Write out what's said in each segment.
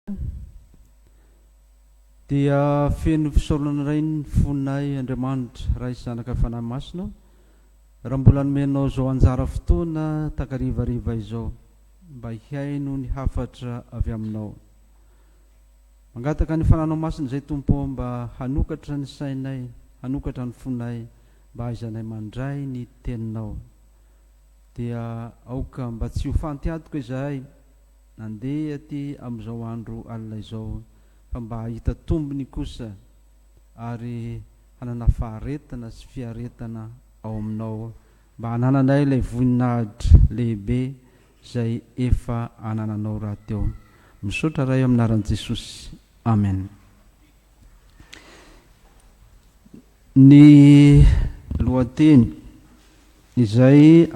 Jesosy dia feno fisaorana indray ny fonay Andriamanitra Ray Zanaka Fanahy Masina raha mbola nomenao izao anjara fotoana takarivariva izao mba hihaino ny hafatra avy aminao mangataka ny fananao masina izay Tompo ô mba hanokatra ny sainay hanokatra ny fonay mba hahaizanay mandray ny teninao dia aoka mba tsy ho fantiadoka izahay Nandeha aty amin'izao andro alina izao fa mba hahita tombony kosa ary hanana faharetana sy fiaretana ao aminao mba hanananay ilay voninahitra lehibe izay efa anananao rahateo. Misaotra Ray amin'ny anaran'i Jesosy. Amen. Ny lohateny izay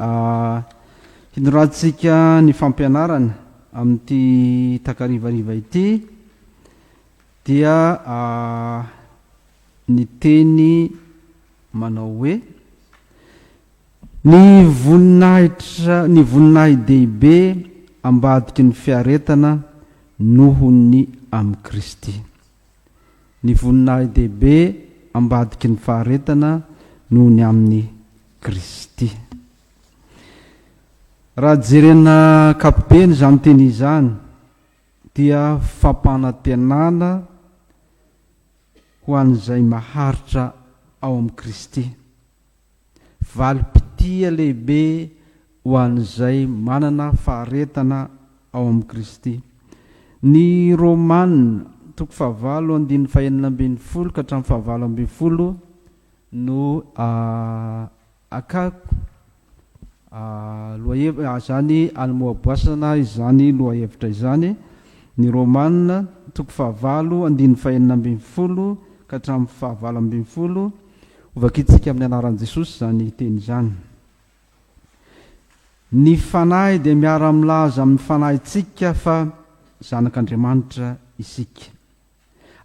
hinoratsika ny fampianarana amin'ity takarivariva ity dia ny teny manao hoe ny voninahitra ny voninahi-dehibe ambadiky ny fiaretana noho ny amin'i Kristy. Ny voninahi-dehibe ambadiky ny faharetana noho ny amin'i Kristy. Raha jerena ankapobeny izany teny izany dia fampanantenana ho an'izay maharitra ao amin'i Kristy. valim-pitia lehibe ho an'izay manana faharetana ao amin'i Kristy. Ny Romana, toko fahavalo andininy fahenina ambin'ny folo ka hatramin'ny fahavalo ambin'ny folo no akako lohahev- izany alimoaboasana izany lohahevitra izany. Ny Romana, toko fahavalo andininy fahenina ambin'ny folo ka hatramin'ny fahavalo ambin'ny folo. Ho vakintsika amin'ny anaran'i Jesosy izany teny izany. Ny Fanahy dia miara-milaza amin'ny fanahintsika fa zanak'Andriamanitra isika.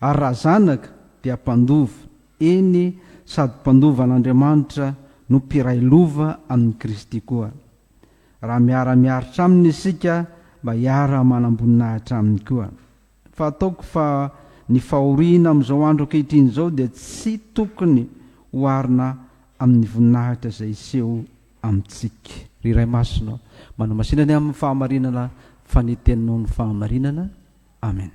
Ary raha zanaka dia mpandova, eny sady mpandova an'Andriamanitra no mpiray lova amin'i Kristy koa. Raha miara-miaritra aminy isika mba hiara-manamboninahitra aminy koa. Fa ataoko fa ny fahoriana amin'izao andro ankehitriny izao dia tsy tokony oharina amin'ny voninahitra izay hiseho amintsika. Ry Ray Masina ô, manamasina ny amin'ny fahamarinana fa ny Teninao no fahamarinana. Amen.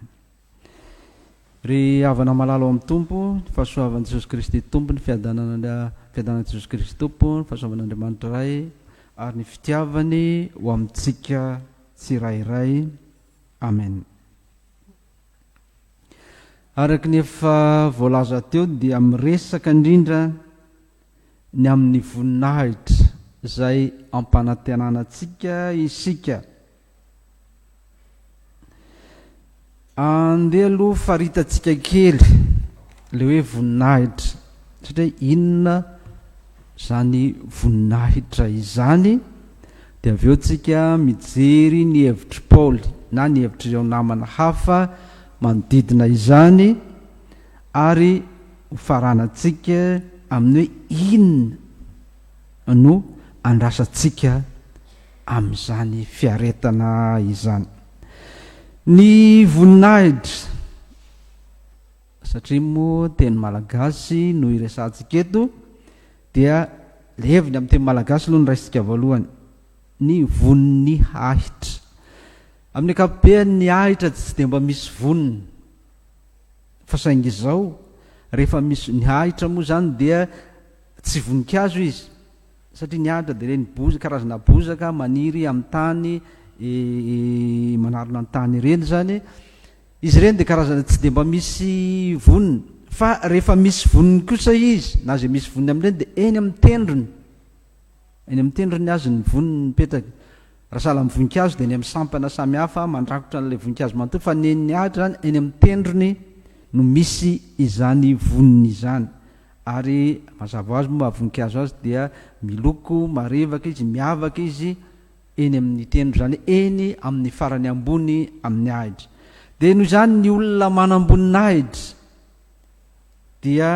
Ry havana malala ao amin'ny Tompo, ny fahasoavan'i Jesosy Kristy Tompo, ny fiadanana, fiadanan'i Jesosy Kristy Tompo, ny fahasoavan'Andriamanitra Ray ary ny fitiavany ho amintsika tsirairay Amen. Araka ny efa voalaza teo dia miresaka indrindra ny amin'ny voninahitra izay ampanantenana antsika isika. Andeha aloha faritantsika kely le hoe voninahitra satria inona izany voninahitra izany, dia avy eo tsika mijery ny hevitr'i Paoly na ny hevitr'ireo namana hafa manodidina izany ary ho faranantsika amin'ny hoe inona no andrasantsika amin'izany fiaretana izany. Ny voninahitra. satria moa teny malagasy no iresahantsika eto dia levona amin'ny teny malagasy aloha ny raisintsika voalohany ny vonon'ny ahitra amin'ny ankapobeny ny ahitra tsy dia mba misy vonony fa saingy izao rehefa misy ny ahitra moa izany dia tsy voninkazo izy satria ny ahitra dia le ny boza karazana bozaka maniry amin'ny tany manarona ny tany ireny izany Izy ireny dia karazana tsy dia mba misy voniny, fa rehefa misy voniny kosa izy, na izay misy voniny amin'ireny dia eny amin'ny tendrony, eny amin'ny tendrony azy ny voniny mipetraka. Raha sahala amin'ny voninkazo dia eny amin'ny sampana samy hafa mandrakotra an'ilay voninkazo manontolo, fa ny eny Atra izany, eny amin'ny tendrony no misy izany voniny izany. Ary mazava ho azy moa maha voninkazo azy dia miloko marevaka izy, miavaka izy, eny amin' ny tendro, izany hoe eny amin' ny farany ambony amin' ny ahitra. Dia noho izany ny olona manamboninahitra dia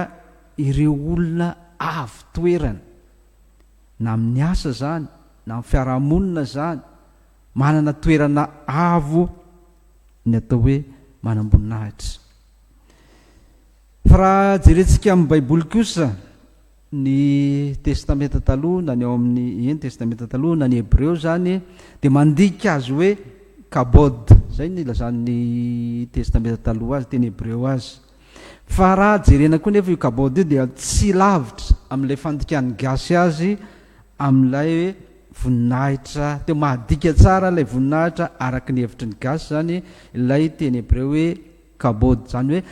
ireo olona avo toerana, na amin' ny asa izany na amin' ny fiarahamonina izany, manana toerana avo ny atao hoe manamboninahitra. Fa raha jerentsika amin' ny Baiboly kosa, ny Testamenta Taloha na ny ao amin'ny, ie, ny Testamenta Taloha na ny Hebreo izany dia mandika azy hoe Kabod, izay no ilazan'ny Testamenta Taloha azy, teny Hebreo azy. Fa raha jerena koa nefa io Kabod io dia tsy lavitra amin'ilay fandikan'ny gasy azy amin'ilay hoe voninahitra, teo mahadika tsara ilay voninahitra araka ny hevitry ny gasy izany ilay teny Hebreo hoe Kabod, izany hoe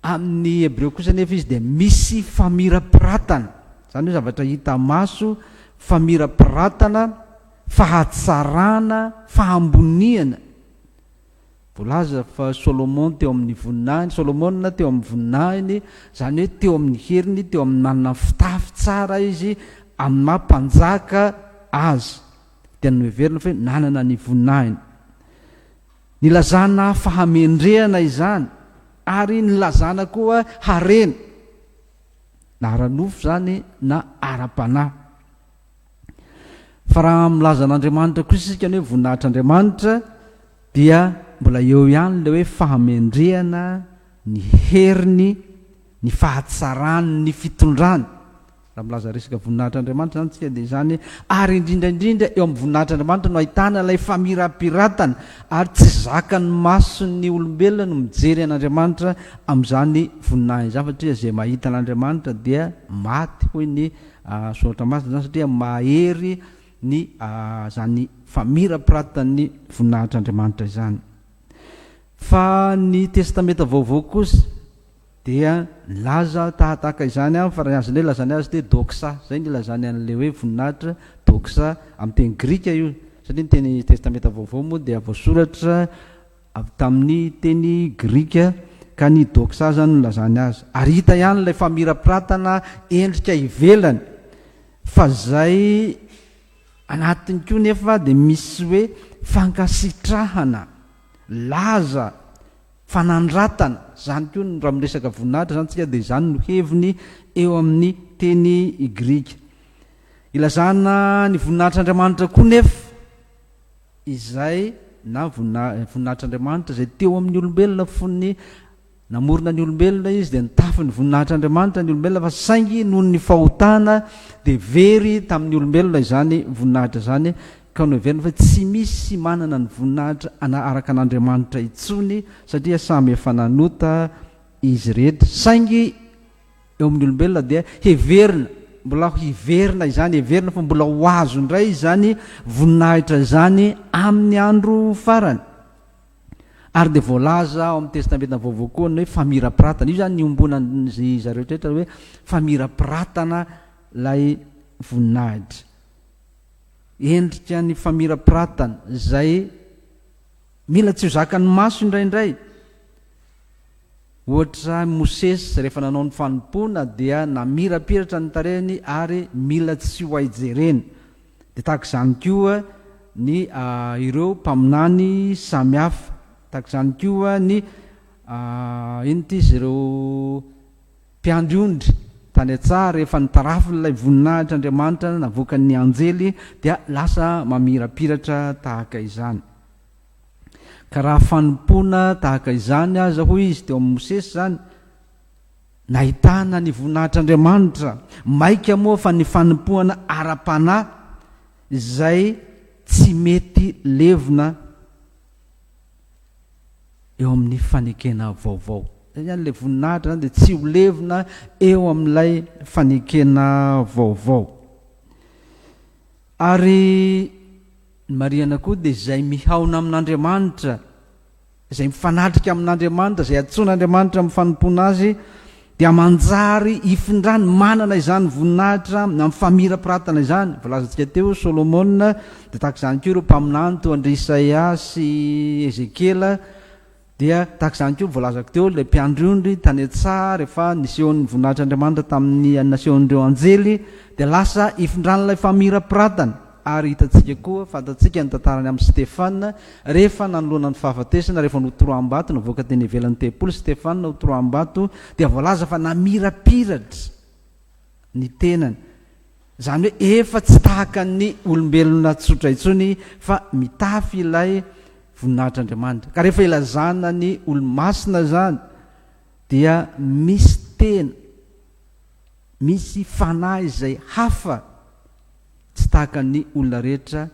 Amin' ny Hebreo kosa anefa izy dia misy famirapiratana, izany hoe zavatra hita maso, famirapiratana, fahatsarana, fahamboniana. Voalaza fa Solomon teo amin' ny voninahiny, Solomona teo amin' ny voninahiny, izany hoe teo amin' ny heriny, teo amin' ny nanana fitafy tsara izy amin' ny maha mpanjaka azy, dia noheverina fa hoe nanana ny voninahiny. Nilazana fahamendrehana izany ary nilazana koa harena, na ara-nofo izany na ara-panahy. Fa raha milaza an'Andriamanitra kosa isika ny hoe voninahitr'Andriamanitra dia mbola eo ihany ilay hoe fahamendrehana, ny heriny, ny fahatsarany, ny fitondrany. Raha milaza resaka voninahitr'Andriamanitra izany isika dia izany ary indrindra indrindra eo amin'ny voninahitr'Andriamanitra no ahitana ilay famirapiratana ary tsy zakan'ny mason'ny olombelona no mijery an'Andriamanitra amin'izany voninahiny izany satria izay mahita an'Andriamanitra dia maty hoy ny soratra masina izany satria mahery ny izany famirapiratan'ny voninahitr'Andriamanitra izany fa ny testamenta vaovao kosa Dia nilaza tahatahaka izany aho fa raha ny azonay ilazana azy dia doxa, izay no ilazany an'ilay hoe voninahitra, doxa, amin'ny teny grika io, satria ny teny Testamenta Vaovao moa dia voasoratra avy tamin'ny teny grika, ka ny doxa izany no nilazany azy. Ary hita ihany ilay famirapiratana endrika ivelany, fa izay anatiny koa nefa dia misy hoe fankasitrahana, laza, fanandratana, izany koa no raha miresaka voninahitra izany isika dia izany no heviny eo amin'ny teny grika. Ilazana ny voninahitr'Andriamanitra koa nefa izay na voninahitr'Andriamanitra izay teo amin'ny olombelona fony namorona ny olombelona izy dia nitafy ny voninahitr'Andriamanitra ny olombelona fa saingy noho ny fahotana dia very tamin'ny olombelona izany voninahitra izany ka noheveriny fa tsy misy manana ny voninahitra araka an'Andriamanitra intsony satria samy efa nanota izy rehetra, saingy eo amin'ny olombelona dia heverina mbola ho hiverina izany, heverina fa mbola ho azo indray izany voninahitra izany amin'ny andro farany. Ary dia voalaza ao amin'ny Testamenta Vaovao koa ny hoe famirapiratana, io izany niombonan'izy zareo rehetra hoe famirapiratana ilay voninahitra. Endrika ny famirapiratana izay mila tsy ho zakan'ny maso indraindray. Ohatra, i Mosesy rehefa nanao ny fanompoana dia namirapiratra ny tarehiny ary mila tsy ho hay jerena. Dia tahaka izany koa ny ireo mpaminany samy hafa. Tahaka izany koa ny inona ity izy ireo? Mpiandry ondry, tany an-tsaha, rehefa ny tarafin'ilay voninahitr'Andriamanitra navoakan'ny anjely dia lasa mamirapiratra tahaka izany. Ka raha fanompoana tahaka izany aza, hoy izy teo amin'i Mosesy, izany nahitana ny voninahitr'Andriamanitra, maika moa fa ny fanompoana ara-panahy izay tsy mety levona eo amin'ny fanekena vaovao. Izay ihany ilay voninahitra izany dia tsy ho levona eo amin'ilay fanekena vaovao. Ary ny marihana koa dia izay mihaona amin'Andriamanitra, izay mifanatrika amin'Andriamanitra, izay antsoin'Andriamanitra amin'ny fanompoana azy, dia manjary hifindrany manana izany voninahitra amin'ny famirapiratana izany. Voalazantsika teo, Solomona, dia tahaka izany koa ireo mpaminany toa an-dry Isaia sy Ezekiela, dia tahaka izany koa voalazako teo ilay mpiandry ondry tany an-tsaha rehefa nisehon'ny voninahitr'Andriamanitra tamin'ny nasehon'ireo anjely, dia lasa hifindran'ilay famirapiratana. Ary hitantsika koa, fantatsika ny tantarany amin'i Stefana, rehefa nanoloana ny fahafatesana, rehefa notoroam-bato, navoaka teny ivelan'ny tempoly i Stefana hotoroam-bato, dia voalaza fa namirapiratra ny tenany, izany hoe efa tsy tahaka ny olombelona tsotra intsony fa mitafy ilay voninahitr'Andriamanitra. Ka rehefa ilazana ny olo-masina izany dia misy tena, misy fanahy izay hafa Tsy tahaka ny olona rehetra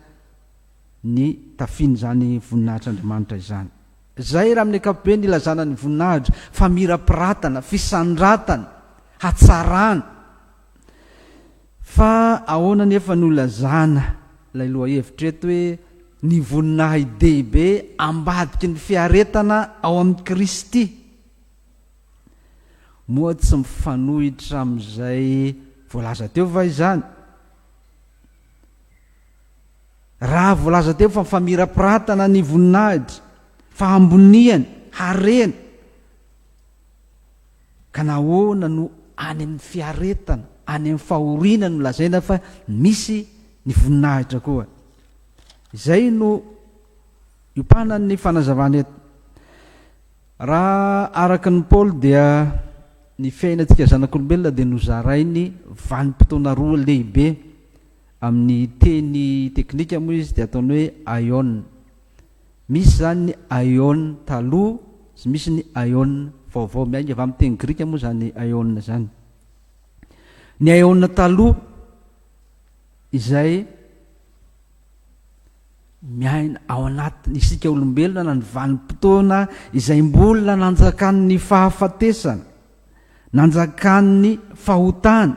ny tafian'izany voninahitr'Andriamanitra izany. Izay raha amin'ny ankapobeny ilazana ny voninahitra, famirapiratana, fisandratana, hatsarana. Fa ahoana anefa no ilazana ilay lohahevitra eto hoe ny voninahidehibe ambadiky ny fiaretana ao amin'i Kristy? Moa tsy mifanohitra amin'izay voalaza teo va izany? Raha voalaza teo fa famirapiratana ny voninahitra, fahamboniany, harena, ka nahoana no any amin'ny fiaretana, any amin'ny fahoriana no lazaina fa misy ny voninahitra koa? Izay no iopanan'ny fanazavana eto. Raha araka an'i Paoly dia ny fiainantsika zanak'olombelona dia nozarainy vanim-potoana roa lehibe, amin'ny teny teknika moa izy dia ataony hoe aion. Misy izany ny aion taloha sy misy ny aion vaovao. Miainga avy amin'ny teny grika moa izany aion izany. Ny aion taloha izay Miaina ao anatin' isika olombelona ny vanim-potoana izay mbola nanjakan' ny fahafatesana, nanjakan' ny fahotana,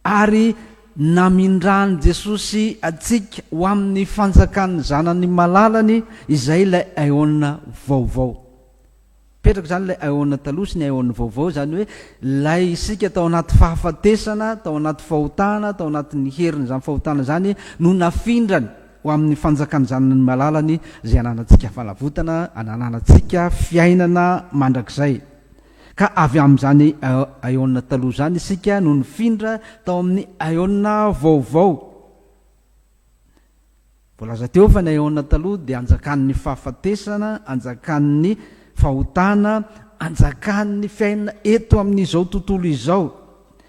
ary namindran' i Jesosy antsika ho amin' ny fanjakan' ny Zanany malalany, izay ilay aeôna vaovao. Mipetraka izany ilay aeon taloha sy ny aeon vaovao, izany hoe ilay isika tao anaty fahafatesana, tao anaty fahotana, tao anatin'ny herin'izany fahotana izany no nafindrany ho amin'ny fanjakan'ny Zanany malalany izay ananantsika fanavotana, ananantsika fiainana mandrakizay. Ka avy amin'izany aeon taloha izany isika no nifindra tao amin'ny aeon vaovao. Voalaza teo fa ny aeona taloha dia anjakan'ny fahafatesana, anjakan'ny fahotana, anjakan'ny fiainana eto amin'izao tontolo izao,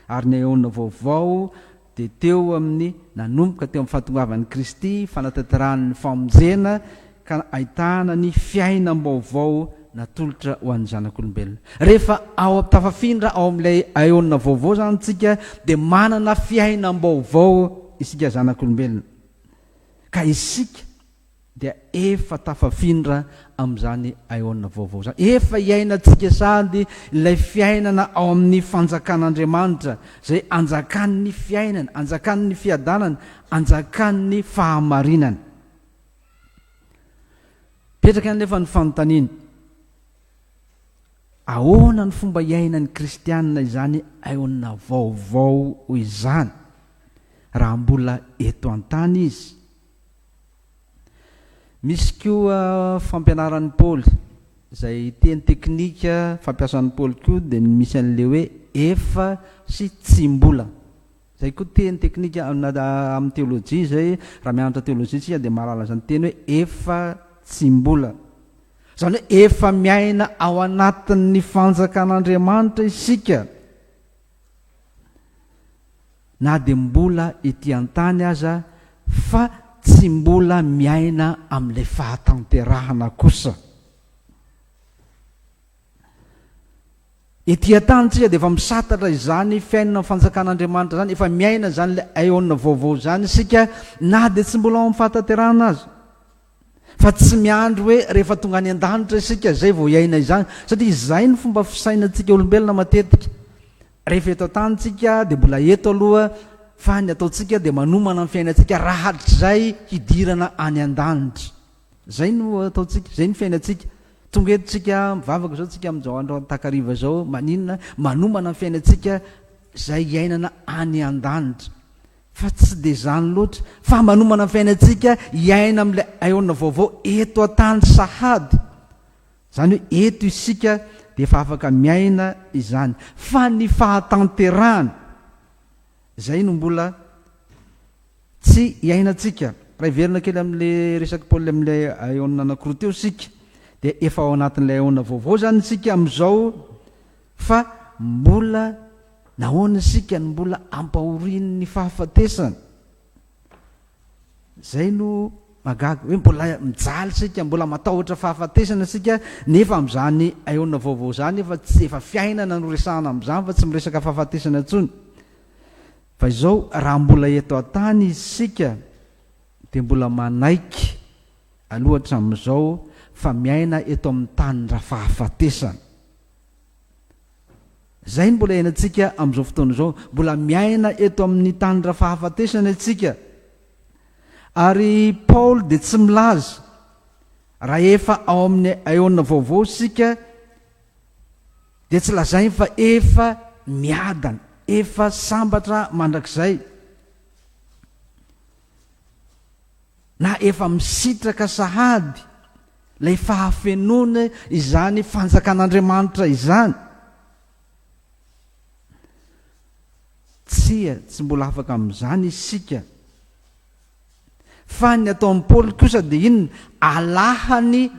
ary ny aeona vaovao dia teo amin'ny nanomboka teo amin'ny fahatongavan'i Kristy, fanatanterahany ny famonjena, ka ahitana ny fiainam-baovao natolotra ho an'ny zanak'olombelona. Rehefa ao tafafindra ao amin'ilay aeona vaovao izany isika dia manana fiainam-baovao isika zanak'olombelona, ka isika dia efa tafafindra amin'izany aeona vaovao izany. Efa iainantsika sady ilay fiainana ao amin'ny fanjakan'Andriamanitra, izay anjakan'ny fiainana, anjakan'ny fiadanana, anjakan'ny fahamarinana. Mipetraka anefa ny fanontaniana, Ahoana no fomba iainan'ny kristiana izany aona vaovao izany raha mbola eto an-tany izy? Misy koa fampianaran'i Paoly, izay teny teknika fampiasan'i Paoly koa dia ny misy an'ilay hoe efa sy tsy mbola. Izay koa teny teknika amin'ny teolojia izay, raha mianatra teolojia isika dia mahalala izany teny hoe efa tsy mbola. Izany hoe efa miaina ao anatin'ny fanjakan'Andriamanitra isika. Na dia mbola ety an-tany aza fa tsy mbola miaina amin'ilay fahatanterahana kosa. Ety an-tany tsika dia efa misatatra izany fiainana fanjakan'Andriamanitra izany, efa miaina izany ilay aeona vaovao izany isika na dia tsy mbola ao amin'ny fahatanterahana aza. Fa tsy miandry hoe rehefa tonga any an-danitra isika izay vao hiaina izany, satria izay ny fomba fisainantsika olombelona matetika. Rehefa eto an-tany tsika dia mbola eto aloha fa ny ataontsika dia manomana ny fiainantsika raha hatrizay hidirana any an-danitra. Izay no ataontsika, izay no fiainantsika. Tonga eto tsika, mivavaka izao tsika amin'izao andro takariva izao, maninona, manomana ny fiainantsika izay hiainana any an-danitra. Fa tsy dia izany loatra, fa manomana ny fiainantsika hiaina amin'ilay aeona vaovao eto an-tany sahady. Izany hoe eto isika dia efa afaka miaina izany. Fa ny fahatanterahana, Izay no mbola tsy iainantsika. Raha hiverina kely amin'ilay resaky Paoly amin'ilay aeona anankiroa teo isika, dia efa ao anatin'ilay aeona vaovao izany isika amin'izao, fa mbola nahoana isika no mbola ampahorian'ny fahafatesana? Izay no mahagaga, hoe mbola mijaly isika, mbola matahotra fahafatesana isika, nefa amin'izany aeona vaovao izany efa tsy efa fiainana no resahana amin'izany fa tsy miresaka fahafatesana intsony. Fa izao raha mbola eto an-tany isika dia mbola manaiky aloha hatramin'izao fa miaina eto amin'ny tany ra-fahafatesana. Izay no mbola iainantsika amin'izao fotoana izao. Mbola miaina eto amin'ny tany ra-fahafatesana isika. Ary Paoly dia tsy milaza, raha efa ao amin'ny aeona vaovao isika, dia tsy lazainy fa efa miadana, efa sambatra mandrakizay. Na efa misitraka sahady ilay fahafenoana izany Fanjakan'Andriamanitra izany? Tsia, tsy mbola afaka amin'izany isika. Fa ny ataon'i Paoly kosa dia inona? Alahany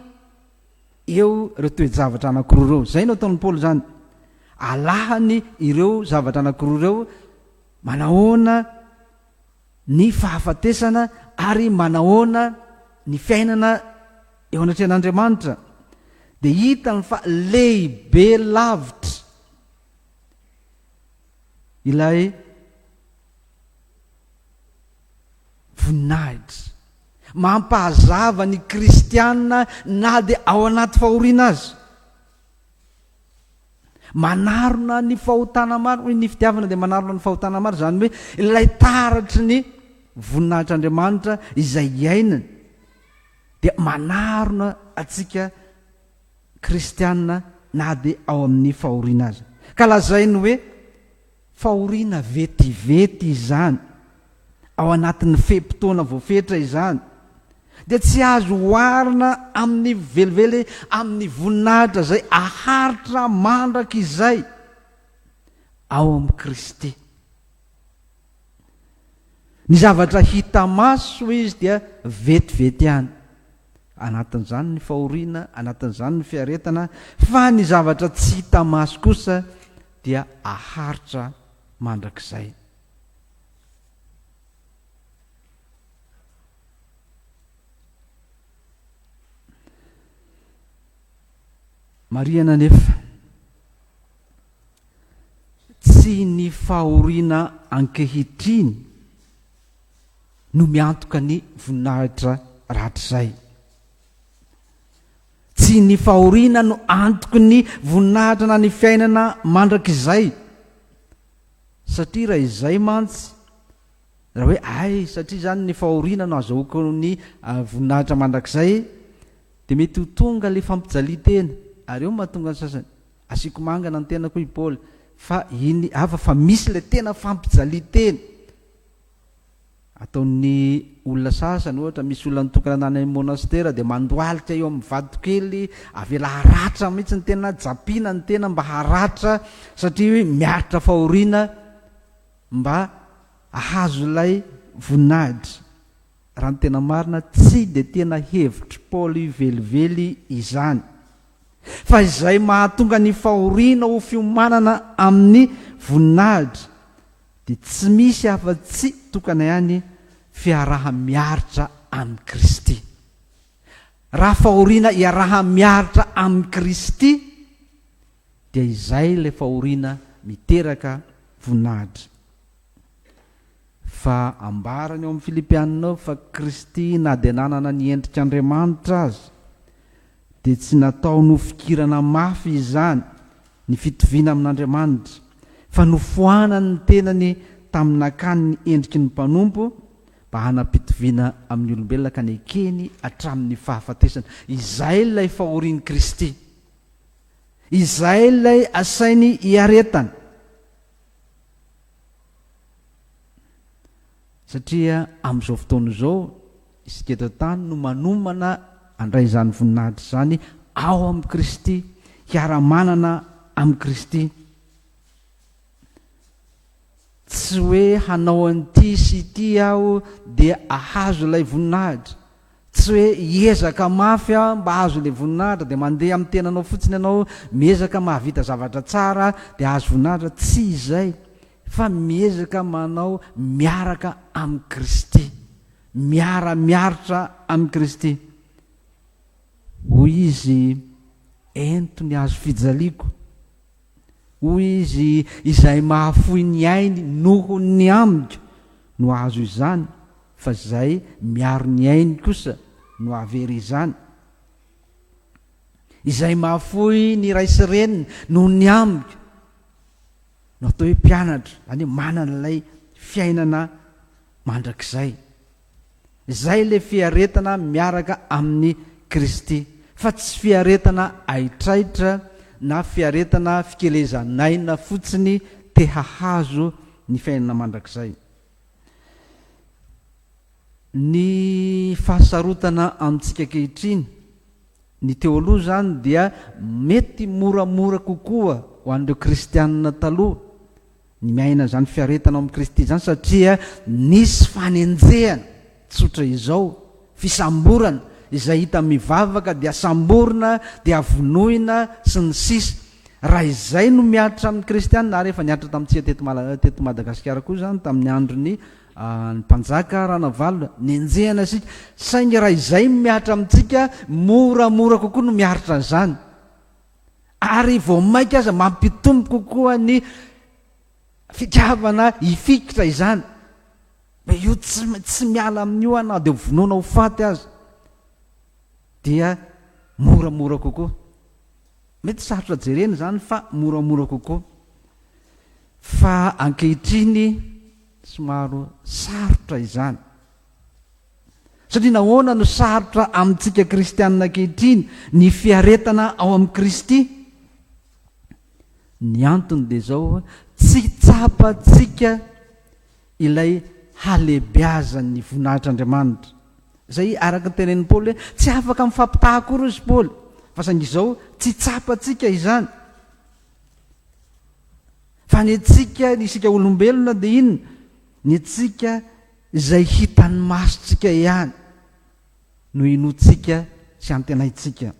eo ireo toe-javatra anankiroa ireo. Izay no ataon'i Paoly izany. Alahany ireo zavatra anankiroa ireo. Manahoana? ny fahafatesana ary manahoana ny fiainana eo anatrehan'Andriamanitra dia hitany fa lehibe lavitra ilay voninahitra mampahazava ny kristiana na dia ao anaty fahoriana aza. Manarona ny fahotana maro, hoy ny fitiavana dia manarona ny fahotana maro, izany hoe ilay taratry ny voninahitr'Andriamanitra izay iainany dia manarona antsika kristiana na dia ao amin'ny fahoriana aza. Ka lazainy hoe Fahoriana vetivety izany, ao anatin'ny fe-potoana voafetra izany, dia tsy azo oharina amin'ny velively amin'ny voninahitra izay haharitra mandrakizay ao amin'i Kristy. Ny zavatra hita maso, hoy izy, dia vetivety ihany. Anatin'izany ny fahoriana, anatin'izany ny fiaretana, fa ny zavatra tsy hita maso kosa dia aharitra mandrakizay. Marihana anefa, tsy ny fahoriana ankehitriny no miantoka ny voninahitra rahatrizay. Tsy ny fahoriana no antoky ny voninahitra na ny fiainana mandrakizay. Satria raha izay mantsy, raha hoe hay satria izany ny fahoriana no azahoako ny voninahitra mandrakizay, dia mety ho tonga ilay fampijalian-tena. Ary eo no mahatonga ny sasany, asiako mangana ny tenako hoy i Paoly, fa iny hafa fa misy ilay tena fampijalian-tena. Ataon'ny olona sasany ohatra, misy olona nitokana nany amin'ny monastera dia mandohalika eo amin'ny vatokely, avela haratra mihitsy ny tena na japina ny tena mba haratra satria hoe miaritra fahoriana mba hahazo ilay voninahitra. Raha ny tena marina, tsy dia tena hevitr'i Paoly velively izany. Fa izay mahatonga ny fahoriana ho fiomanana amin'ny voninahitra dia tsy misy afa-tsy tokana ihany fiaraha-miaritra amin'i Kristy. Raha fahoriana iaraha-miaritra amin'i Kristy, dia izay ilay fahoriana miteraka voninahitra. Fa ambarany ao amin'ny Filipiana ao fa Kristy na dia nanana ny endrik'Andriamanitra aza, dia tsy nataony ho fikirana mafy izany ny fitoviana amin'Andriamanitra, fa nofoanany ny tenany tamin'ny nakany ny endriky ny mpanompo mba hanam-pitoviana amin'ny olombelona ka nekeny hatramin'ny fahafatesana. Izay ilay fahorian'i Kristy. Izay ilay asainy hiaretana. Satria amin'izao fotoana izao, isika eto an-tany no manomana handray izany voninahitra izany ao amin'i Kristy, hiara-manana amin'i Kristy. Tsy hoe hanao an'ity sy ity aho dia ahazo ilay voninahitra. Tsy hoe hiezaka mafy aho mba hahazo ilay voninahitra, dia mandeha amin'ny tenanao fotsiny ianao, miezaka mahavita zavatra tsara dia hahazo voninahitra. Tsy izay. fa miezaka manao miaraka amin'i Kristy, miara-miaritra amin'i Kristy. Hoy izy, Ento ny hazo fijaliako. Hoy izy, Izay mahafoy ny ainy noho ny amiko no hahazo izany, fa izay miaro ny ainy kosa no hahavery izany. Izay mahafoy ny ray sy reny noho ny amiko. no atao hoe mpianatra, izany hoe manana ilay fiainana mandrakizay. Izay ilay fiaretana miaraka amin'i Kristy, fa tsy fiaretana haitraitra na fiaretana fikelezan'aina fotsiny te hahazo ny fiainana mandrakizay. Ny fahasarotana amintsika ankehitriny, ny teo aloha izany dia mety moramora kokoa ho an'ireo kristianina taloha ny miaina an'izany fiaretana ao amin'i Kristy izany satria nisy fanenjehana tsotra izao, fisamborana, izay hita mivavaka dia samborina, dia vonoina, sy ny sisa Raha izay no mihatra amin'ny kristianina, ary efa nihatra tamintsika teto Madagasikara koa izany tamin'ny andron'i Ah ny mpanjaka Ranavalona, nenjehana isika, saingy raha izay no mihatra amintsika, moramora kokoa no miaritra an'izany. Ary vao mainka aza mampitombo kokoa ny fitiavana hifikitra izany. Hoe io tsy, tsy miala amin'io aho na dia ho vonoina ho faty aza. Dia moramora kokoa. Mety sarotra jerena izany fa moramora kokoa. Fa ankehitriny somaro sarotra izany. Satria nahoana no sarotra amintsika kristianina ankehitriny ny fiaretana ao amin'i Kristy? Ny antony dia izao, tsy tsapantsika ilay halehibeazan'ny voninahitr'Andriamanitra. Izay araka ny tenenin'i Paoly hoe tsy afaka mifampitaha akory hoy i Paoly, fa saingy izao tsy tsapantsika izany. Fa ny antsika, ny isika olombelona dia inona? Ny antsika izay hitan'ny masontsika ihany no inoantsika sy antenaintsika.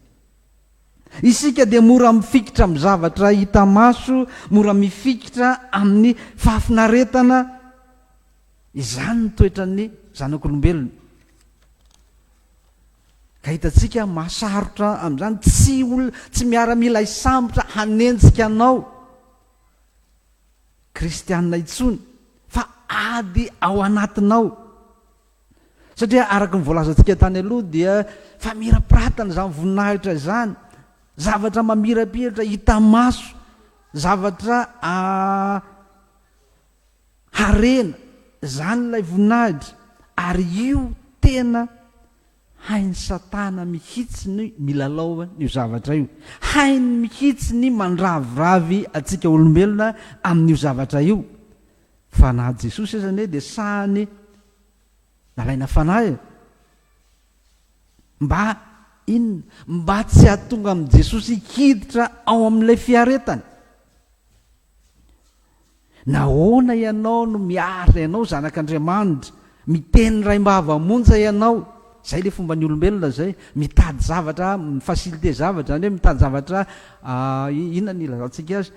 Isika dia mora mifikitra amin'ny zavatra hita maso, mora mifikitra amin'ny fahafinaretana. Izany ny toetran'ny zanak'olombelona. Ka hitantsika mahasarotra amin'izany, tsy olona, tsy miaramila hisambotra hanenjika anao kristianina intsony fa ady ao anatinao. Satria araka ny voalazantsika tany aloha dia famirapiratana izany voninahitra izany, zavatra mamirapiratra hita maso, zavatra a Harena zany ilay voninahitra ary io tena hain'i satana mihitsy ny milalao an'io zavatra io. Hainy mihitsy ny mandraviravy antsika olombelona amin'io zavatra io. Fa na Jesosy aza anie dia sahany nalaina fanahy e! Mba inona? Mba tsy hahatonga an'i Jesosy hiditra ao amin'ilay fiaretany. Nahoana ianao no miarina ianao zanak'Andriamanitra? Miteny raim-bava monja ianao. Izay ilay fomban'ny olombelona izay. Mitady zavatra, mi-faciliter zavatra, izany hoe mitady zavatra, inona no ilazantsika azy?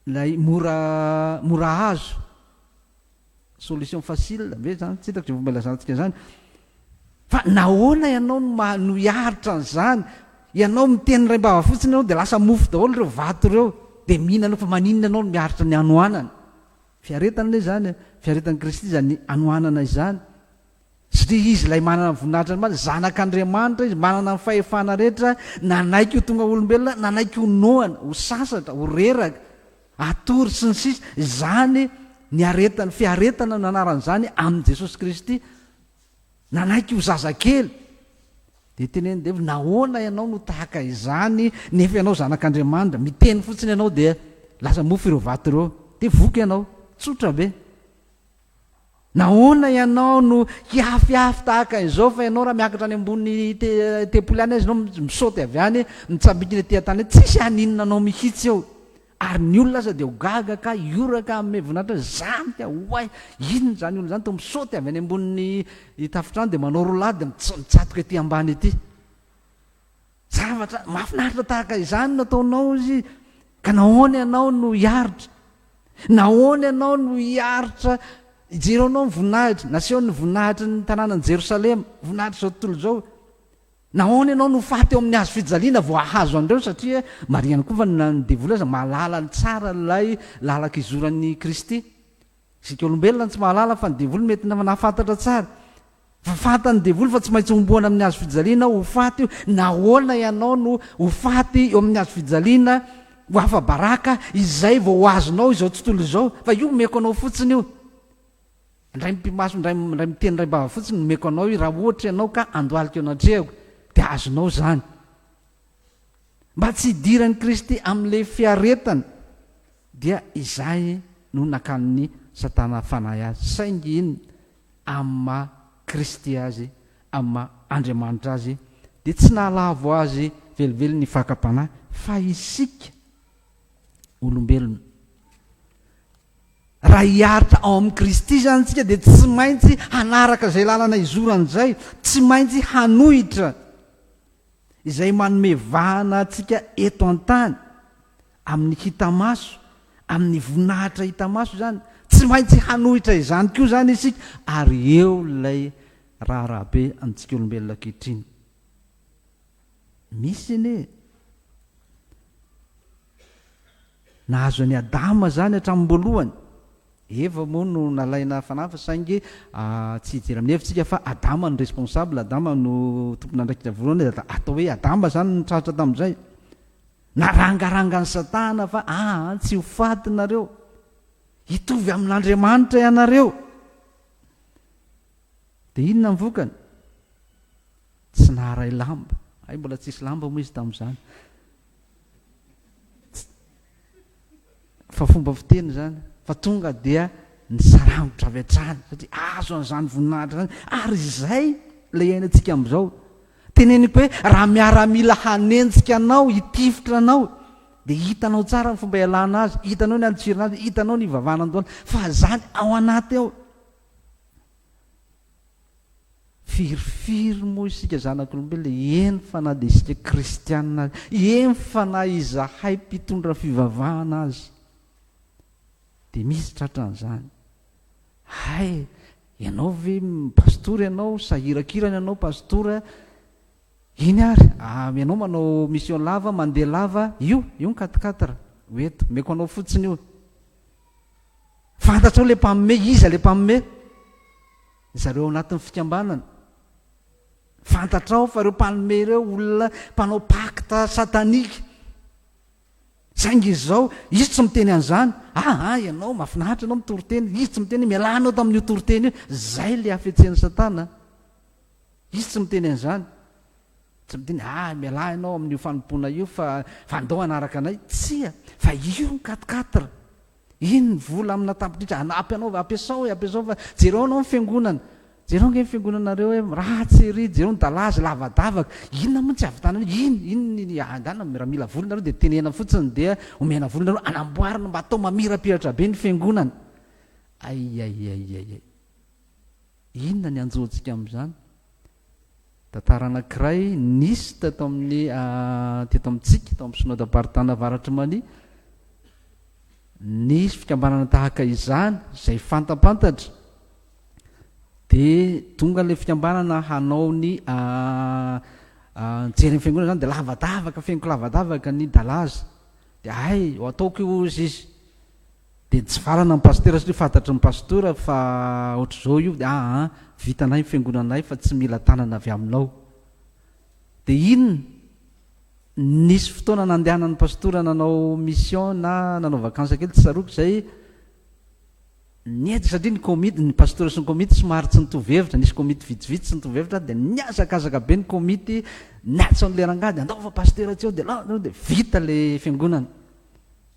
ilay mora, mora azo. Solution facile ve zany? Tsy hitako izay fomba ilazantsika izany. Fa nahoana ianao no maha no hiaritra an'izany? Ianao miteny indray am-bava fotsiny ianao dia lasa mofo daholo ireo vato ireo dia mihinana eo fa maninona ianao no miaritra ny hanoanana? Fiaretana ilay izany e! Fiaretan'i Kristy izany hanoanana izany. Satria Izy ilay manana ny voninahitra ny marina, Zanak'Andriamanitra Izy, manana ny fahefana rehetra, nanaiky ho tonga olombelona, nanaiky ho noana, ho sasatra, ho reraka. Atory sy ny sisa Izany ny aretany, fiaretana no anaran'izany amin'i Jesosy Kristy Nanaiky ho zazakely Dia tenenin'i Devoly Nahoana ianao no tahaka izany nefa ianao zanak'Andriamanitra Miteny fotsiny ianao dia lasa mofo ireo vato ireo Dia voky ianao Tsotra be. Nahoana ianao no hihafihafy tahaka izao fa ianao raha miakatra any ambony tempoly any aza ianao misaoty avy any mitsambikina ety an-tany ety tsisy haninona anao mihitsy eo ary ny olona aza dia ho gaga ka hioraka hanome voninahitra azy izany ka oay inona izany olona izany toa misaoty avy any ambony tafontrano dia manao roulade mitsatoka ety ambany ety Zavatra mahafinaritra tahaka izany nataonao izy, ka nahoana ianao no hiaritra? Nahoana ianao no hiaritra? Jereo anao ny voninahitra nasehon'ny voninahitry ny tanànan'i Jerosalema, voninahitr'izao tontolo izao. Nahoana ianao no faty eo amin'ny hazo fijaliana vao hahazo an'ireo? Satria marihany koa fa ny devoly aza mahalala tsara ilay lalan-kizoran'i Kristy. Isika olombelona no tsy mahalala fa ny devoly mety nahafantatra tsara. Fa fantan'ny devoly fa tsy maintsy homboana amin'ny hazo fijaliana aho ho faty io. Nahoana ianao no ho faty eo amin'ny hazo fijaliana ho afa-baraka izay vao ho azonao izao tontolo izao? Fa io omeko anao fotsiny io. Indray mipi-maso, indray, indray miteny, indray bava fotsiny no omeko anao io. Raha ohatra ianao ka handohalika eo anatrehako dia azonao izany. Mba tsy hidiran'i Kristy amin'ilay fiaretany, dia izay no nakanin'i Satana fanahy azy, saingy inona? amin'ny maha Kristy azy, amin'ny maha Andriamanitra azy, dia tsy nahalavo azy velively ny fakam-panahy, fa isika olombelona, raha hiaritra ao amin'i Kristy izany isika, dia tsy maintsy hanaraka izay lalana izorany izay, tsy maintsy hanohitra izay manome vahana antsika eto an-tany, amin'ny hita maso, amin'ny voninahitra hita maso izany. Tsy maintsy hanohitra izany koa izany isika, ary eo ilay raharaha be amintsika olombelona ankehitriny. Misy anie e! Nahazo an'i Adama izany hatramin'nyboalohany. Eva moa no nalaina fanafa saingy tsy hijery amin'ny hevitsika fa Adama no responsable, Adama no tompon'andraikitra voalohany dia atao hoe Adama izany no nitratra tamin'izay. Narangaranga an'i Satana fa aa tsy ho faty nareo. Hitovy amin'Andriamanitra ianareo. Dia inona ny vokany? Tsy naharay lamba. Hay mbola tsisy lamba moa izy tamin'izany. fa fomba fiteny zany fa tonga dia ny sarangotra avy hatrany satria azo an'izany voninahitra zany ary izay le iainantsika am'izao teneniko hoe raha miaramila hanenjika anao hitifitra anao de hitanao tsara ny fomba ialana azy hitanao ny antsirina azy hitanao ny ivavana andohana fa zany ao anaty ao Firifiry moa isika zanak'olombelona, eny fa na dia isika kristiana aza, eny fa na izahay mpitondra fivavahana aza, dia misy tratran'izany. Hay, ianao ve pastora ianao, sahirakirana ianao pastora, iny ary, ah, ianao manao mission lava, mandeha lava, io, io ny quatre-quatre, ho eto, omeko anao fotsiny io. Fantatrao ilay mpanome, iza ilay mpanome? Ry zareo ao anatin'ny fikambanana. Fantatrao fa ireo mpanome ireo olona mpanao pacte satanique. Saingy izy izao, izy tsy miteny an'izany. Ah, ah, ianao, mahafinaritra ianao mitoriteny. Izy tsy miteny, mialà anao tamin'io toriteny io. Izay ilay hafetsen'i Satana. Izy tsy miteny an'izany. Tsy midiny, ah, mialà ianao amin'io fanompoana io fa, fa andao hanaraka anay. Tsia, fa io ny quatre quatre. Iny ny vola amina tapitrisa, hanampy anao, ampiasao e, ampiasao fa jereo ianao ny fiangonana. Jereo ange ny fiangonanareo hoe ratsy ery, jereo ny dalazy lavadavaka. Inona moa no tsy havitanana io? Iny, iny ny, ah, angaha na, raha mila vola nareo dia tenena fotsiny dia omena vola nareo, anamboarina mba atao mamirapiratra be ny fiangonana. Ay, ay, ay, ay, ay. Inona ny hanjo antsika amin'izany? Tantara anankiray nisy teto amin'ny teto amintsika tao amin'ny Synoda Baritana Avaratry Mali, nisy fikambanana tahaka izany izay fantampantatra dia tonga ilay fikambanana hanao ny jery ny fiangonana izany dia lavadavaka feniko lavadavaka ny dalaza dia hay ho ataoko io hozy izy Dia nitsivalana ny pasitera satria fantatry ny pastora fa ohatr'izao io dia aa vitanay ny fiangonanay fa tsy mila tanana avy aminao. Dia iny nisy fotoana nandehanan'ny pastora nanao mission na nanao vacances kely tsy tsaroako izay niady satria ny komity ny pastora sy ny komity somary tsy nitovy hevitra nisy komity vitsivitsy tsy nitovy hevitra dia nihazakazaka be ny komity niantso an'ilay rangahy dia andaova pasitera tsy eo dia dia vita ilay fiangonana.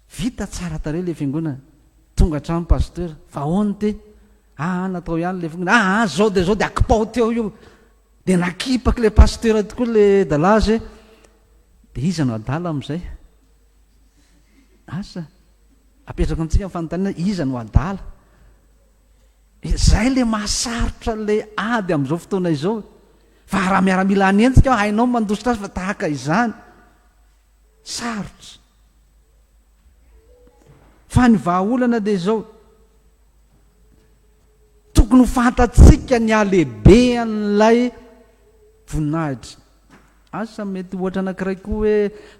Vita tsara tarehy le fiangonana. Tonga hatrany Pasteur fa aona ty aa natao ihany le fiangonana aa zao de zao de akipao teo io de nakipak le Pasteur tokoa le dalaza e de iza no adala amizay asa apetrako amitsika ny fanontaniana iza no adala zay le mahasarotra le ady amizao fotoana izao fa raha miaramila hanenjika aho hainao mandositra azy fa tahaka izany Sarotra. Fa ny vahaolana dia izao, tokony ho fantatsika ny halehibean'ilay voninahitra. Asa mety ohatra anankiray koa hoe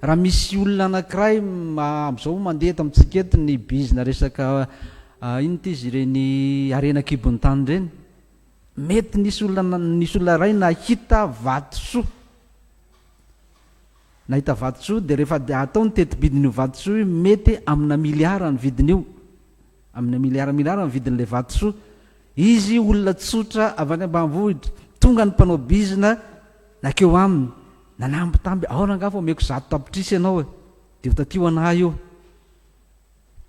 raha misy olona anankiray amin'izao mandeha eto amintsika eto ny bizina resaka inona ity izy ireny harena an-kibon'ny tany ireny. Mety nisy olona nisy olona iray nahita vatosoa. Nahita vatosoa dia rehefa dia atao ny tetibidin'io vatosoa io mety amina miliara ny vidin'io, amina miliara miliara ny vidin'ilay vatosoa. Izy olona tsotra avy any ambanivohitra, tonga ny mpanao bizina nakeo aminy, nanambitamby, aona angaha fa omeko zato tapitrisa ianao e! Dia ho taty ho anah io.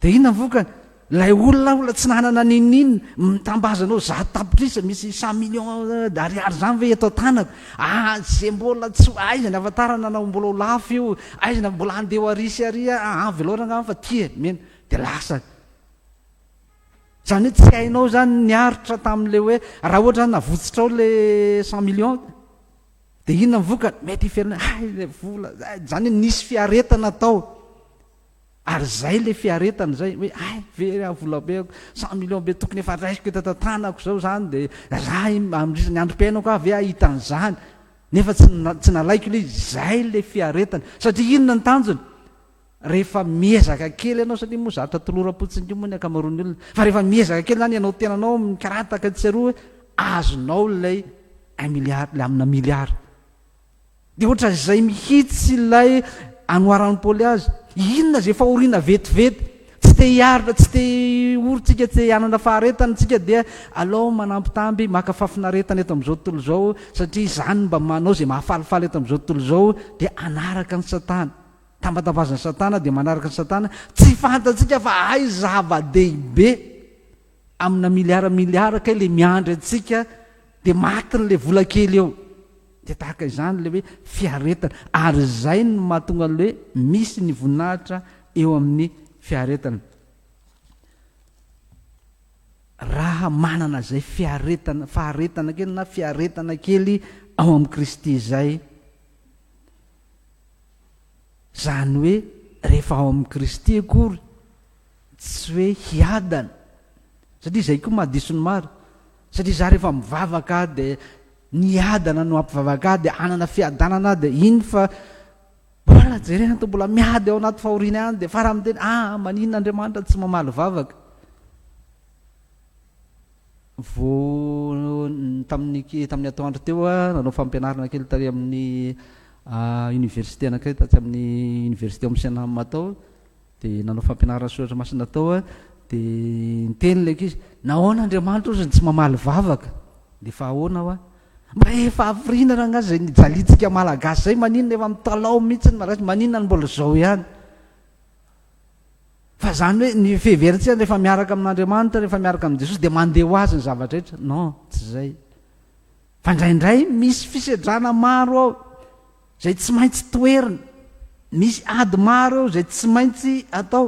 Dia inona ny vokany? Ilay olona olona tsy nanana n'inon'inona, mitambaza anao zato tapitrisa, misy cent millions d'ariary izany ve eto an-tanako? Ah, izay mbola tsy ho aizany ahafantarana na mbola ho lafo io, aiza na mbola handeha ho àry sy àry ah, ah, avy loatra angamba fa ty e, mena, dia lasa. Izany hoe tsy hainao izany ny aritra tamin'ilay hoe, raha ohatra izany navotsotrao ilay cent millions, dia inona ny vokany? Mety hiverina, hay ilay vola, izany hoe nisy fiaretana tao. Ary izay ilay fiaretana izay hoe hay ve raha volabe ako cent millions be tokony efa raisiko eto an-tanako izao izany dia raha amin'izany androm-piainako aho ve hahita an'izany nefa tsy tsy nalaiko ilay izy izay ilay fiaretana satria inona ny tanjona rehefa miezaka kely ianao satria moa zatra toloram-potsiny io moa ny ankamaroan'ny olona fa rehefa miezaka kely izany ianao tenanao mikarataka tsy aroa hoe azonao ilay un milliard ilay amina milliard Dia ohatran'izay mihitsy ilay anoharan'i Paoly azy. Inona izay fahoriana vetivety? Tsy te hiaritra, tsy te hiory tsika, tsy te hanana faharetana tsika, dia alao manambitamby, maka fafinaretana eto amin'izao tontolo izao, satria izany no mba manao izay mahafalifaly eto amin'izao tontolo izao, dia hanaraka an'i Satana. Tambatambazan'i Satana, dia manaraka an'i Satana. Tsy fantatsika fa hay zava-dehibe. Amina miliara miliara kay le miandry antsika de matiny le vola kely eo de tahaka izany le hoe fiaretana ary izay no mahatonga le hoe misy ny voninahitra eo amin'ny fiaretana raha manana izay fiaretana faharetana kely na fiaretana kely ao amin'i Kristy izay zany hoe rehefa ao amin'i Kristy akory Tsy hoe hiadana, satria izay koa mahadiso ny maro, satria izaho rehefa mivavaka aho dia niadana no hampivavaka ahy dia hanana fiadanana aho dia iny fa mbola jerena toa mbola miady ao anaty fahoriana ihany dia farany miteny ah maninona Andriamanitra tsy mamaly vavaka vao tamin'ny tamin'ny atoandro teo a nanao fampianarana kely tary amin'ny université anakay tatsy amin'ny université ao Msenam atao Dia nanao fampianarana ny soratra masina tao aho, dia niteny ilay ankizy, nahoana Andriamanitra ozy no tsy mamaly vavaka? Dia efa ahoana hoa? Mba efa hafiriana raha angaha izay nijaliantsika Malagasy izay, maninona efa mitalaho mihintsy ny Malagasy, maninona no mbola izao ihany? Fa izany hoe ny fiheverantsika rehefa miaraka amin'Andriamanitra, rehefa miaraka amin'i Jesosy dia mandeha ho azy ny zava-drehetra, non, tsy izay. Fa indraindray misy fisedrana maro ao izay tsy maintsy toherina, misy ady maro eo izay tsy maintsy atao.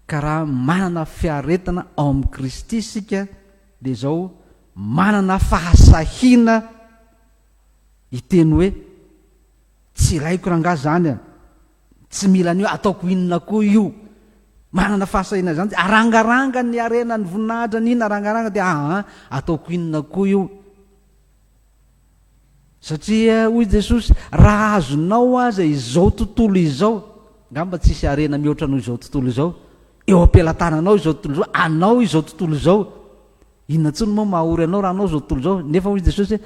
Ka raha manana fiaretana ao amin'i Kristy isika dia izao manana fahasahiana hiteny hoe tsy ilaiko rangahy izany an. Tsy mila ny hoe ataoko inona koa io. Manana fahasahiana izany. Arangaranga ny harena, ny voninahitra, ny inona, arangaranga dia aa, ataoko inona koa io. Satria hoy Jesosy, raha azonao aza izao tontolo izao, ngamba tsy hisy harena mihoatra noho izao tontolo izao, eo am-pelatananao izao tontolo izao, anao izao tontolo izao. Inona intsony moa mahaory anao raha anao izao tontolo izao? Nefa hoy Jesosy,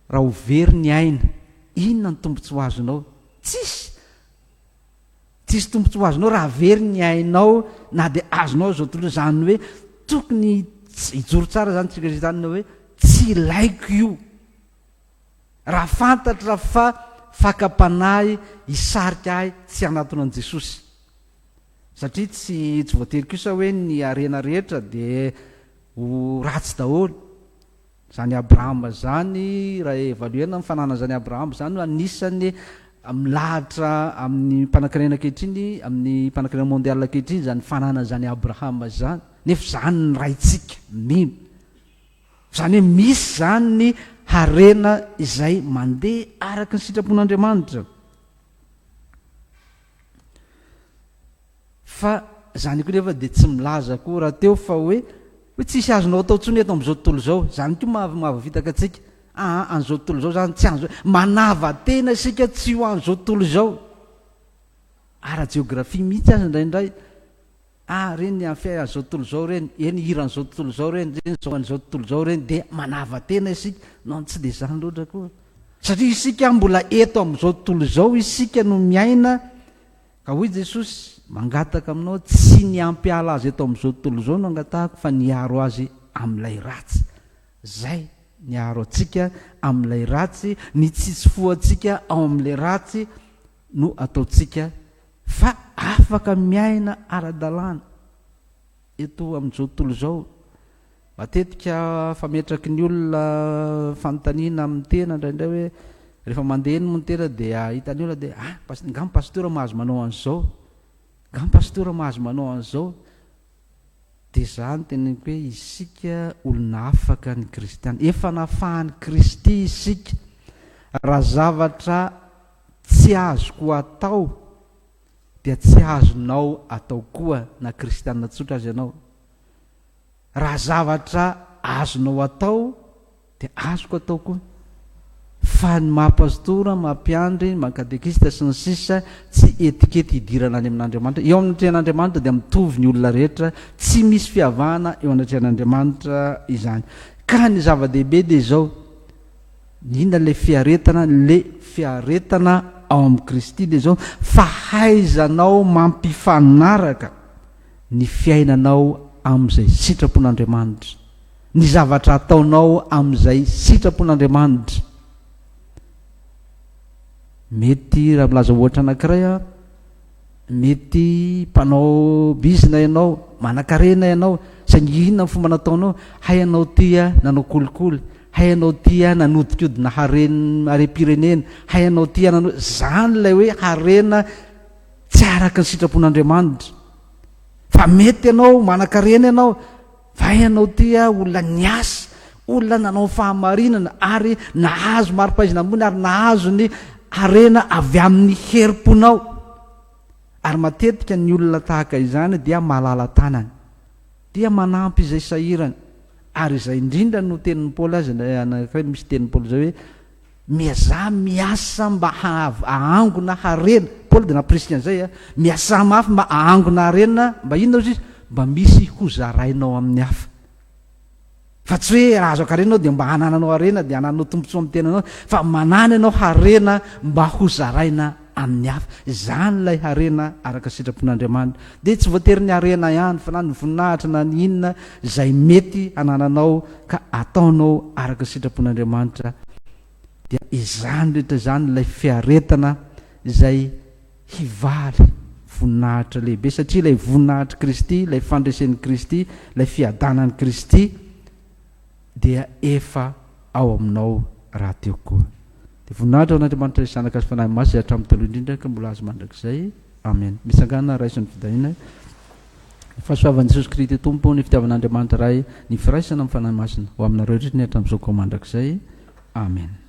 Raha ho very ny aina, inona no tombontsoa azonao? Tsisy! Tsisy tombontsoa azonao raha very ny ainao na dia azonao izao tontolo izany hoe tokony hijoro tsara izany tsika izany hoe tsy ilaiko io. Raha fantatra fa fakam-panahy hisarika ahy tsy hanatona an'i Jesosy. Satria tsy tsy voatery kosa hoe ny harena rehetra dia ho ratsy daholo. Izany Abrahama izany, raha evaluena ny fananana izany Abrahama izany hoe anisan'ny milahatra amin'ny mpanankarena ankehitriny, amin'ny mpanankarena mondial ankehitriny izany fananana izany Abrahama izany. Nefa izany ny raintsika, mino. Izany hoe misy izany ny harena izay mandeha araka ny sitrapon'Andriamanitra. Fa izany koa nefa dia tsy milaza koa rahateo fa hoe hoe tsisy azonao atao intsony eto amin'izao tontolo izao. Izany koa maha mahavitaka antsika. Aa an'izao tontolo izao izany tsy an'izao. Manava tena isika tsy ho an'izao tontolo izao. Ara-jeografia mihitsy aza indraindray. Aa ireny amin'ny fiainana an'izao tontolo izao ireny, ireny hira an'izao tontolo izao ireny, ireny zao an'izao tontolo izao ireny dia manava tena isika. Non tsy dia izany loatra akory. Satria isika mbola eto amin'izao tontolo izao isika no miaina Ka hoy Jesosy, Mangataka aminao, tsy ny hampiala azy eto amin'izao tontolo izao no angatahako, fa ny hiaro azy amin'ilay ratsy. Izay, ny hiaro antsika amin'ilay ratsy, ny tsy hitsifoha antsika ao amin'ilay ratsy no ataontsika fa afaka miaina ara-dalàna. Eto amin'izao tontolo izao, matetika fametraky ny olona fanontaniana amin'ny tena indraindray hoe rehefa mandeha eny moa ny tena dia hitan'ny olona dia ah, angaha ny pasitera mahazo manao an'izao? Angaha ny pasitera mahazo manao an'izao? Dia izaho no teneniko hoe isika olona afaka ny kristiana, efa nafahan'i Kristy isika, raha zavatra tsy azoko atao dia tsy azonao atao koa na kristiana tsotra aza ianao. Raha zavatra azonao atao dia azoko atao koa. Fa ny maha pastora, maha mpiandry, maha katekista sy ny sisa tsy etikety hidirana any amin'Andriamanitra. Eo amin'ny atrehan'Andriamanitra dia mitovy ny olona rehetra, tsy misy fiavahana eo anatrehan'Andriamanitra izany. Ka ny zava-dehibe dia izao, Inona le fiaretana? Le fiaretana ao amin'i Kristy dia izao, fahaizanao mampifanaraka ny fiainanao amin'izay sitrapon'Andriamanitra, ny zavatra ataonao amin'izay sitrapon'Andriamanitra. Mety raha milaza ohatra anankiray aho, Mety mpanao bizina ianao, manankarena ianao, saingy inona ny fomba nataonao? Hay ianao tia nanao kolikoly, hay ianao tia nanodinkodina haren harem-pirenena, hay ianao tia nanao izany ilay hoe harena tsy araka ny sitrapon'Andriamanitra. Fa mety ianao, manankarena ianao, Fa ianao dia olona niasa, olona nanao ny fahamarinana ary nahazo mari-pahaizana ambony ary nahazo ny harena avy amin'ny herim-ponao. Ary matetika ny olona tahaka izany dia malala-tanana, dia manampy izay sahirana. Ary izay indrindra no tenin'i Paoly azy, ilay anankiray misy tenin'i Paoly izay hoe, Miazà miasa mba hahaangona harena. Paoly dia nampirisika an'izay a! Miasà mafy mba hahaangona harena, mba inona hozy izy? Mba misy hozarainao amin'ny hafa. Fa tsy hoe raha azo ankarena ianao dia mba hanananao harena, dia hanananao tombontsoa amin'ny tenanao, fa manana ianao harena mba hozaraina amin'ny hafa. Izany ilay harena araka sitrapon'Andriamanitra. Dia tsy voatery ny harena ihany fa na ny voninahitra na ny inona izay mety hanananao ka ataonao araka sitrapon'Andriamanitra dia izany rehetra izany ilay fiaretana izay hivaly voninahitra lehibe satria ilay voninahitr'i Kristy, ilay fandresen'i Kristy, ilay fiadanan'i Kristy, dia efa ao aminao rahateo koa. Dia voninahitra ho an'Andriamanitra Izy Zanaka sy Fanahy Masina izay hatramin'ny taloha indrindra ka mbola azy mandrakizay. Amena. Mitsangàna raiso ny fidahina. Ny fahasoavan'i Jesosy Kristy Tompo, ny fitiavan'Andriamanitra Ray, ny firaisana amin'ny Fanahy Masina ho aminareo indrindra ny hatramin'izao ka ho mandrakizay. Amena.